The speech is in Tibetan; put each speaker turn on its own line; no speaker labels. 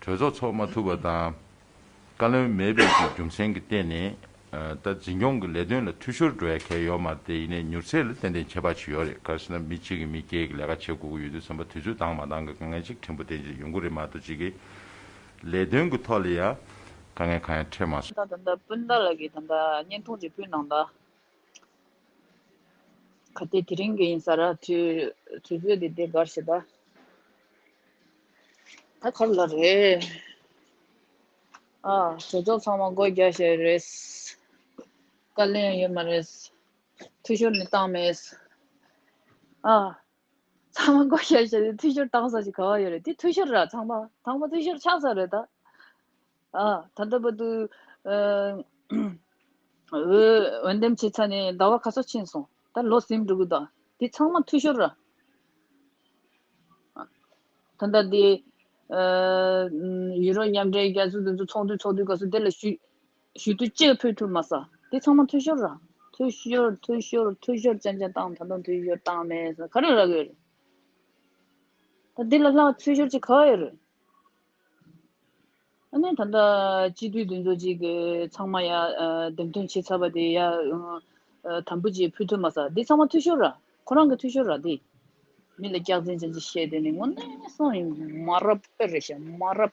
གྲོས་ཚོགས་འཚོགས་མ་ཐུབ་པ་དང། བཀའ་བློན་མེད་པའི་ཀྱི་རྒྱུ་མཚན་གྱི་སྟེང་ནས། ད་འཛིན་སྐྱོང་གི་ལས་དོན་ལ་འཐུས་ཤོར་འགྲོ་ཡ་གལ་ཡོད་མ་རེད་དེ་ཡིན་ནས་མྱུར་ཚད་ལ་ཏན་ཏན་ཁྱད་པར་ཆེ་ཡོད་རེད་གལ་སྲིད་ན་མི་གཅིག་གིས་མི་བརྒྱད་ཀྱི་ལས་ཀ་བྱེད་དགོས་ཀྱི་ཡོད་དུས་བསམ་པ་དུས་ཚོད་དང་མ་འདང་གི་དཀའ་ངལ་ཅིག་ཕྲན་བུ་ལྡན་ཅིག་ཡོང་གི་རེད་མ་གཏོགས་གཅིག་གི་ལས་དོན་གྱི་ཐོག་ལ་ཡ་དཀའ་ངལ་གང་ཡང་འཕྲད་མ་སོང། ད་ད་ད་སྤུན་ཟླ་ལགས་
ཀྱི་ད་ད་བརྙན་ཐུང་རེ་ཕུལ་གནང་ད། གལ་ཏེ་དེ་རིང་གི་ཡིན་ས་ར་དུས་དུས་ཚོད་དེ་དེ་གར་བྱེད་པ་ད་ག་ལ་རེད་ཨ་གྲོས་ཚོགས་ཚང་མ་སྒོ་རྒྱ་བྱས་རེད་བཀའ་ལན་ཡོད་མ་རེད་འཐུས་ཤོར་ནི་བཏང་མེད་ཨ་ཚང་མ་སྒོ་རྒྱ་བྱས་ཏེ་འཐུས་ཤོར་བཏང་ས་ཞིག་ག་བ་ཡོད་རེད་དེ་འཐུས་ཤོར་ར་ཚང་མ་ཚང་མ་འཐུས་ཤོར་ཆགས་ས་རེད་ད། ད་ལྟ་བར་དུ། འོས་འདེམས་བྱས་ཚར་ནས་ཟླ་བ་ག་ཚོད་ཕྱིན་སོང། ད་ལོ་གཟིམ་འགྲུག་གི་དང་དེ་ཚང་མ་འཐུས་ཤོར། ད་ལྟ་དེ། ཡུ་རོབ་མཉམ་འབྲེལ་རྒྱལ་ཚོགས་དེ་ཚོ་ཚོགས་དུས་ཚོགས་དུས་ག་ཚོད་དེ་ལ་ཞུས། ཞུས་དུས་གཅིག་ཕུལ་ཐུབ་མ་ས་དེ་ཚང་མ་འཐུས་ཤོར། འཐུས་ཤོར་འཐུས་ཤོར་འཐུས་ཤོར་ཅན་ཅན་བཏང་ད་དུང་འཐུས་ཤོར་བཏང་མེད་ས་ག་རེ་རག་ཡོད་རེད། ད་དེ་ལ་ལྷག་འཐུས་ཤོར་ཅིག་ག་ཡོད་རེད། ཨ་ནེ་ད་ལྟ་སྤྱི་འཐུས་དེ་ཚོ་གཅིག་གི་ཚང་མ་ཡ་འདེམས་ཐོན་བྱེད་ཚར་བ་དེ་ཡ་དམ་པོ་ཅིག་ཕུལ་ཐུབ་མ་ཟ་དེ་ཚང་མ་འཐུས་ཤོར་ར་ཁོ་རང་གི་འཐུས་ཤོར་ར་དེ། མི་ལ་སྐྱག་རྫིན་ཅན་ཅིག་བཤད་དེ་ནི་ངོ་གནས་སོང་ཡིན་མ་རབ་ཨེ་རེད་ཤ་མ་རབ།